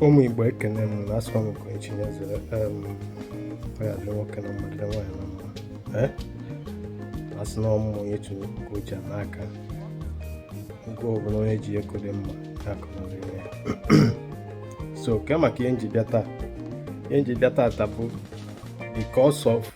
ụmụ Igbo ekene m na asọ m nke echi nyezere ya dịrị nwoke na mma dịrị nwaanyị na mma eh? a sị na ọmụmụ onye chụrụ ka o ji n'aka nke ọbụla onye ji ego dị mma akụnụrụ ya so ke maka ihe m ji bịa taa ihe m ji bịa taa bụ because of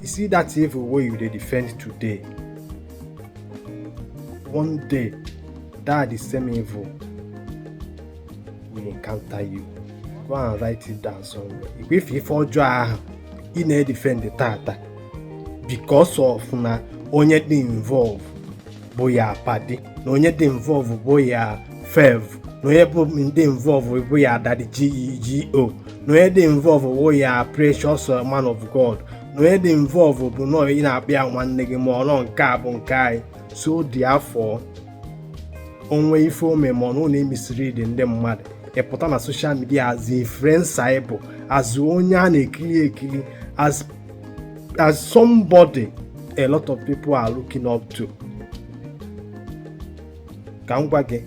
You see that evil way you dey defend today. One day, that the same evil will encounter you. Go and write it down somewhere. If ife ọjọọ ahụ ị na-edefend tata because of na onye dị involve bụ your padi na onye dị involve bụ your fave na onye dị involve bụ your daddy GO na onye dị involve bụ your precious man of god na onye dị involve bụ na ị na-akpọ ya nwanne gị ma ọ na nke a bụ nke anyị so therefore o nwe ife o me ma unu na-emislead ndị mmadụ ị pụta na social media as influencer ị bụ as onye a na-ekiri ekiri as as somebody a lot of people are looking up to ka m gwa gị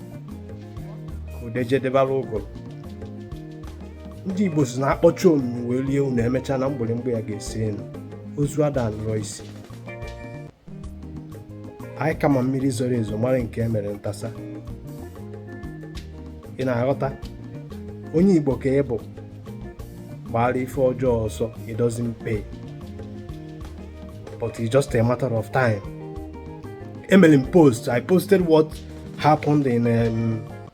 ude jedebara ụgụrụ ndị igbo sị na a kpọchi omimi wee lie unu emechaa na mgbịrịmgba ya ga-esi elu ozu ada nrọ isi anyị ka ma mmiri zoro ezo mara nke e mere ntasa ị na-aghọta onye igbo ka ị bụ gbara ife ọjọọ ọsọ it doesn't pay but it's just a matter of time emere m post i posted what happened in um,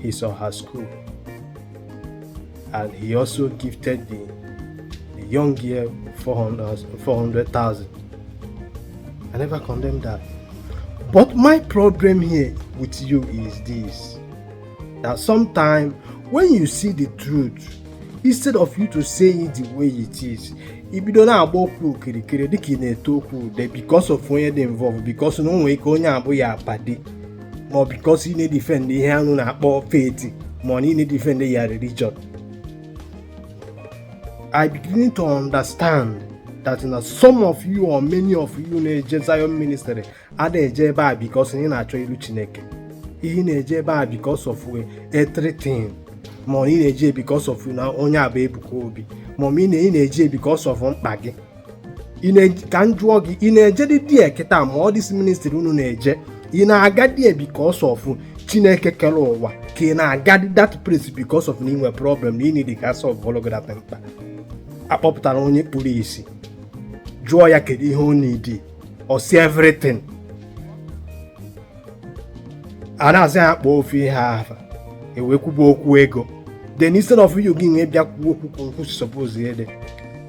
his or her school. And he also gifted the, the young girl 400,000. 400, I never condemn that. But my problem here with you is this that sometimes when you see the truth, instead of you to say it the way it is, i bido na-agba okwu okirikiri dịka ị na-ete okwu ude because of onye dị involved because na o nwere ike onye a bụ your padi ma ọ because ị na-edefend ihe anụ na-akpọ faith ma ọ na ị na-edefend your religion I begin to understand that na some of you or many of you na-eje Zion ministry ada eje ebe a because ị na-achọ iru Chineke ihe na-eje ebe a because of everything ma ị na-eje because of na onye a bụ Ebuka Obi ma ị na-eje because of mkpa gị ka m jụọ gị ị na-ejedị there kịta ma ọ this ministry unu na-eje ị na-aga there because of chineke kere ụwa ka ị na-aga that place because of na i nwe problem na ị need ka solve ọlụ gị that mkpa a kpọpụtara onye kpuru isi jụọ ya kedu ihe ọ need ọ sị everything a na-asị ya kpọọ ofu ihe ahụ e wee kwuba okwu ego then instead of you gị nwe bịa kwuo okwu ka okwu suppose ịdị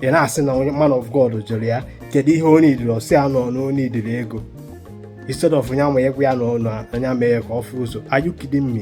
ị na-asị na onye man of God jụrụ ya kedu ihe ọ needịrị ọ sị ya na ọ needịrị ego instead of onye ama agwa ya na ọ anya mee ya ka ọ fụ ụzọ are you kidding me?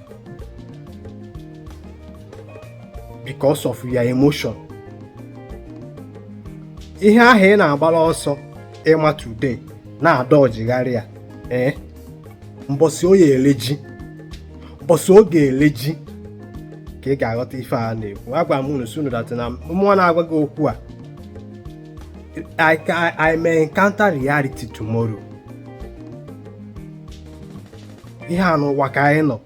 because of your emotion ihe ahụ ị na-agbara ọsọ ịma today na-adọjigharị ya ee eh? mbọsị oyi ele ji mbọsị oge ele ji ka ị ga-aghọta ife a na-ekwu agwa m unu sị unu that na mụwa na-agwa gị okwu a I, I, I may encounter reality tomorrow ihe a n'ụwa ka anyị nọ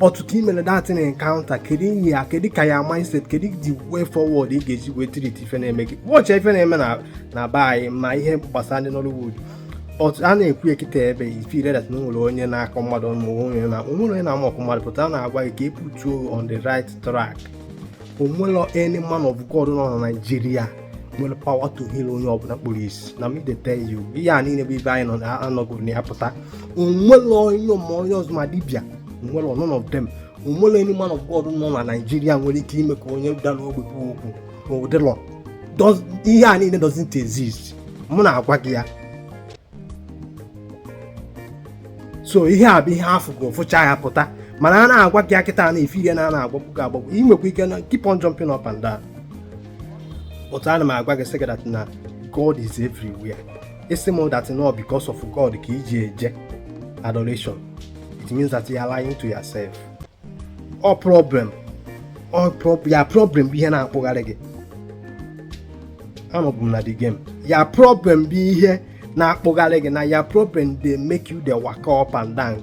but ka i mere that thing encounter kedu ihe ya kedu ka your mindset kedu the way forward ị ga-eji wee treat ife na-eme gị watch ife na-eme na be anyị ma ihe gbasara ndị Nollywood but a na-ekwu kịta ebe ị feel that na nwere onye na-akọ mmadụ ma onwere onye na-ama ọkụ mmadụ pụta na-agwa gị ka e put you on the right track onwere any man of God nọ na Naịjirịa nwere power to heal onye ọbụla kpuru isi na me dey tell you ihe a niile bụ ebe anyị nọgoro na ya pụta onwere onye ma onye ọzọ ma dibịa onwere none of them onwelọ any man of God nọ na Naịjirịa nwere ike ime ka onye dara ogbi kwuo okwu ọ dịlọ ihe a niile doesn't exist mụ na-agwa gị ya so ihe a bụ ihe afụgo fụcha ya pụta mana a na-agwa gị kịta na-efe ihe na ana agbagbu gị agbagbu ị nwekwa ike na keep on jumping up and down but ana m agwa gị sị gị that na God is everywhere ị sị m that no because of God ka i ji eje adoration it means that you are lying to yourself your problem your problem bụ ihe na-akpụgharị gị anọbụ m na the game your problem bụ ihe na-akpụgharị gị na your problem dey make you dey waka up and down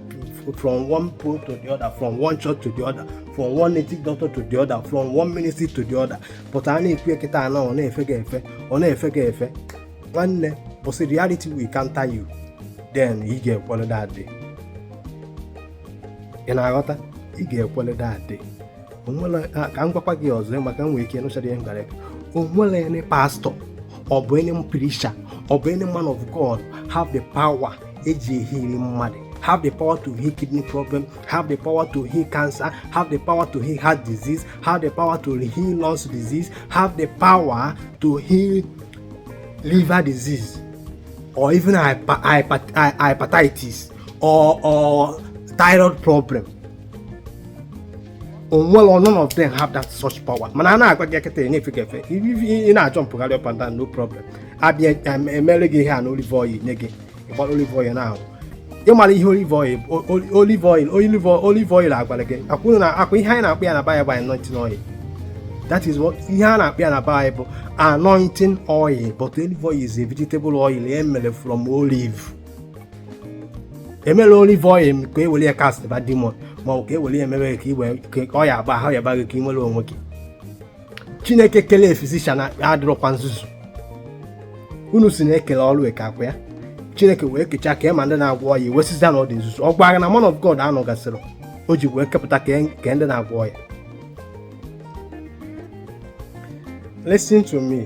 from one pole to the other from one church to the other from one native doctor to the other from one ministry to the other but a na-ekwu kịta na ọ na-efe gị efe ọ na-efe gị efe nwanne mbọsị reality will counter you then ị ga-ekwere that day ị na-aghọta ị ga-ekwele that day ka m gwakwa gị ọzọ maka nwere ike nụchara ihe m gwara o nwere any pastọ ọ bụ any preacher ọ bụ any man of God have the power eji eheal mmadụ have the power to heal kidney problem, have the power to heal cancer, have the power to heal heart disease, have the power to heal lungs disease, have the power to heal liver disease, or even hyper, hyper, hyper, hepatitis. or or thyroid problem onwere none of them have that such power mana a na-agwa gị kịta ọ na-efe gị efe ị na-ajumpụgharị up and down no problem abịa emere gị ihe a na olive oil nye gị ịgbara olive oil n'ahụ ịmara ihe olive oil olive oil olive oil olive oil agwara gị akwụrụ na akwa ihe anyị na-akpọ ya na Bible anointing oil that is what ihe a na-akpọ ya na Bible anointing oil but olive oil is a vegetable oil e mere from olive emela olive oil ka e were ya castba demon ma ọ bụ ka e were ya emebe ka iwe ka ọya agba ahụ ya baghị ka ị nwere onwe gị chineke kele physician adịrọkwa nzuzu unu sị na e kele ọrụ eke ọ kwa ya chineke wee kechaa ka ma ndị na-agwọ ọya wee sịzia na ọ dị nzuzu ọ gwara na man of god anọgasịrị o ji wee kepụta ka ndị na-agwọ ọya listen to me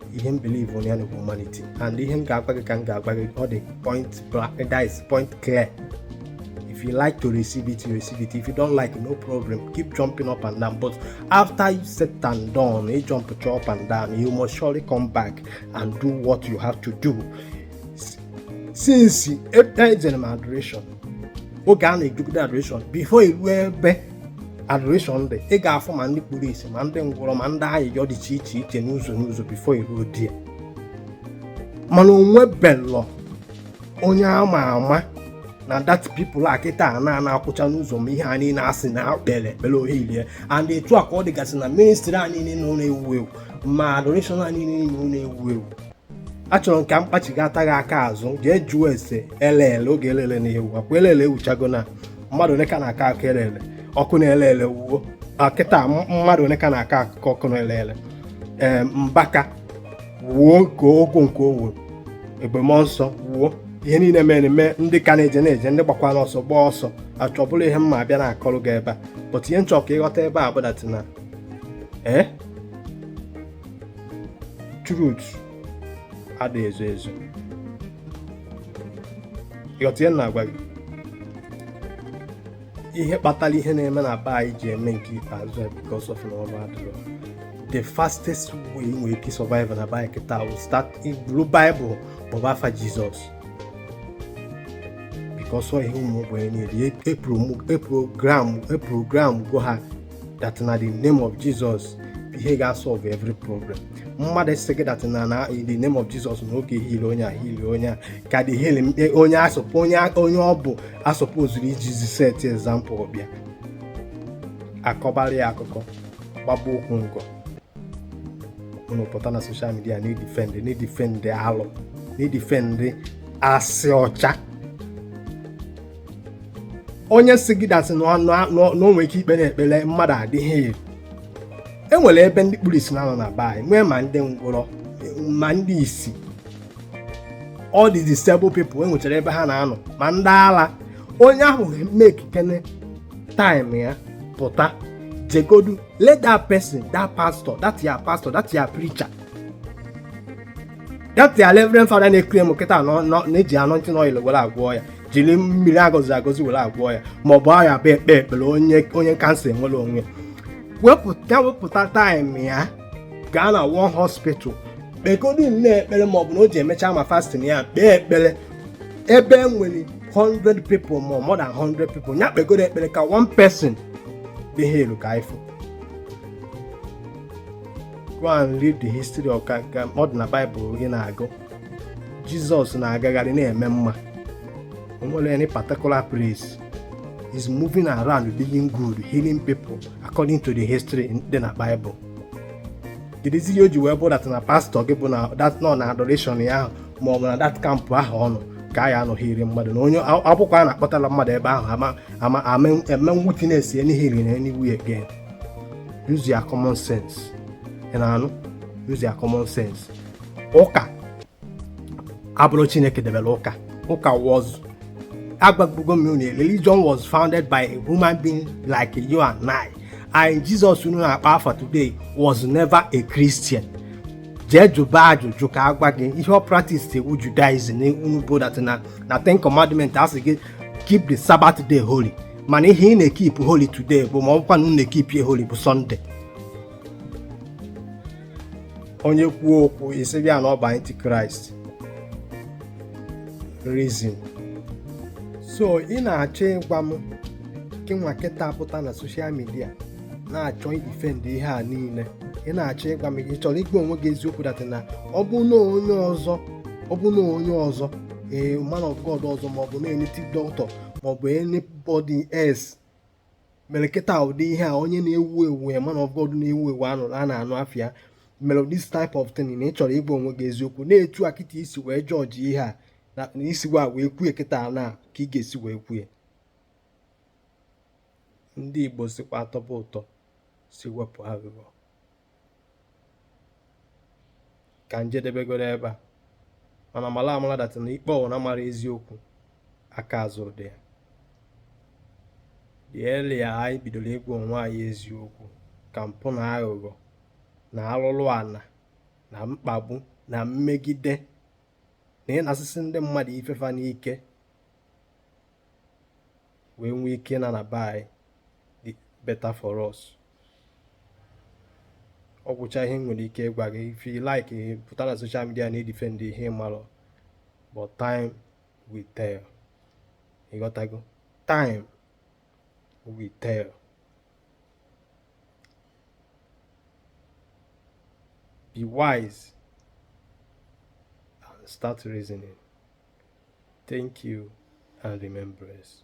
ihe m believe onye bụ humanity and ihe m ga-agwa gị ka m ga-agwa gị ọ dị point black that is point clear if you like to receive it you receive it if you don't like no problem keep jumping up and down but after you set and done you jump up and down you must surely come back and do what you have to do since ejere m adoration oge a na-edugide adoration before iruo ebe adoration there ị ga-afụ ma ndị kpuru isi ma ndị ngwọrọ ma ndị ayịyọ dị iche iche iche n'ụzọ n'ụzọ before i ruo there mana o nwebelọ onye a ma ama na that people a kịta a nọ na-akwụcha n'ụzọ ma ihe a niile a sị na e kpere ekpere ọ healie and etu a ka ọ dịgasị na ministry a niile nọ na-ewu ewu ma adoration a niile nọ na-ewu ewu achọrọ m ka m kpachigata gị aka azụ jee jụọ ese elele oge elele na-ewu ọ kwa elele ewuchago na mmadụ ole ka na-akọ akọ elele ọkụnaelele wuo kịta mmadụ ole ka na-akọ akụkọ ọkụnaelele ee mbaka wuo nke o wu nke o wu ebube mmụọ nsọ wuo ihe niile mere eme ndị ka na-eje na-eje ndị gbakwanụ ọsọ gbaa ọsọ which ọ bụrọ ihe m ga-abịa na-akọrọ gị ebe a but ihe m chọ ka ị ghọta ebe a bụ that na ee truth adịghị ezo ezo ị ghọta ihe m na-agwa gị ihe kpatara ihe na-eme na be anyị ji eme nke ikpeazụ ya because of na ọrụ adịrọ the fastest way e nwere ike survive na be anyị kịta bụ start iburu Bible kpọba afa Jizọs because ọ ihe ụmụ ogbenye na-eri e programgo ha that na the name of Jesus ihe ga-asolve every problem mmadụ sị gị that na na in the name of Jesus na ọ ga-eheal onye a heal onye a ka the healing onye a sup onye onye ọ bụ a supposeuru ijizi set example ọ bịa kọbara ya akụkọ gbagba okwu nkọ unu pụta na social media na-edefend na-edefend alụ na-edefend asị ọcha onye sị gị that is na o nwere ike ikpere ekpere mmadụ adị healed e nwere ebe ndị kpuru isi na-anọ na be anyị nwee ma ndị ngwụrọ ma ndị isi all the disabled people e nwechara ebe ha na-anọ ma ndị ala onye ahụ makekene time ya pụta jegodu let that person that pastor that your pastor that your preacher that your reverend father na-ekiri m kịta na-eji anointing oil were agwọ ọya jiri mmiri agọzi agọzi were agwọ ya ma ọ bụ ya bụ ekpee ekpere onye kansa enwere onwe ya wepụta taịm ya gaa na one hospital kpegodu nne ekpere ma ọ bụ na o ji emecha ma fastin ya kpee ekpere ebe e nwere 100 people ma more than 100 people ya kpegodu ekpere ka one person be healed ka ị fụ go and read the history of ọ dị na Bible ị na-agụ jizọs na-agagharị na-eme mma o nwere any particular place he's moving around being good healing people according to the history dị na Bible kedụzi ihe o ji wee bụ dat na pastọ gị bụ na dat nọ na adoration ya ahụ ma ọ bụ na dat kampụ ahụ ọ nọ ka a ya-anọ heal mmadụ na onye ọ bụkwa a na-akpọtara mmadụ ebe ahụ a ma eme witness any healing anywhere again use your common sense ị na-anụ use your common sense ụka abụrọ chineke debere ụka ụka was agwago m unu religion was founded by a human being like you and I and Jesus unu na-akpọ afa today was never a Christian jee jụba ajụjụ ka a gwa gị ihe ọ practice bụ Judaism na unu bụ dat na na ten commandment a sị gị keep the Sabbath day holy mana ihe ị na-ekip holy today bụ ma ọ bụkwa na unu na-ekip ya holy bụ Sunday onye kwuo okwu ị sị bịa na ọ bụ antikraịst reason so ị na-achọ ịgwa m gị nwa kịta pụta na soshal midia na-achọ idifend ihe a niile ị na-achọ ịgwa m ị chọrọ ịgwa onwe gị eziokwu dat na ọ bụ na onye ọzọ ọ bụ na onye ọzọ ee man of God ọzọ maọbụ na native dọkịta maọbụ anybody else mere kịta ụdị ihe a onye na-ewu ewu man of God na-ewu ewu a na-anụ afa ya mere this type of thing na ị chọrọ ịgwa onwe gị eziokwu na etu a kịta i si wee jọji ihe a na i si wee kwue kịta na ka ị ga-esi wee kwue ndị Igbo sịkwa a tọba ụtọ sị wepụ aghụghọ ka m jedebegodu ebe a mana mara amara dat na ikpe ọwụna mara eziokwu aka azụ dị ya the earlier anyị bidoro ịgwa onwe anyị eziokwu ka mpụ na aghụghọ na alụlụ ana na mkpagbu na mmegide na ịnasisi ndị mmadụ ife fa n'ike wee nwee ike na na be anyị dị better for us ọ gwụcha ihe nwere ike ịgwa gị if you like pụta na social media na edefend ihe ị mara but time will tell ịghọtago time will tell be wise and start reasoning thank you and remain blessed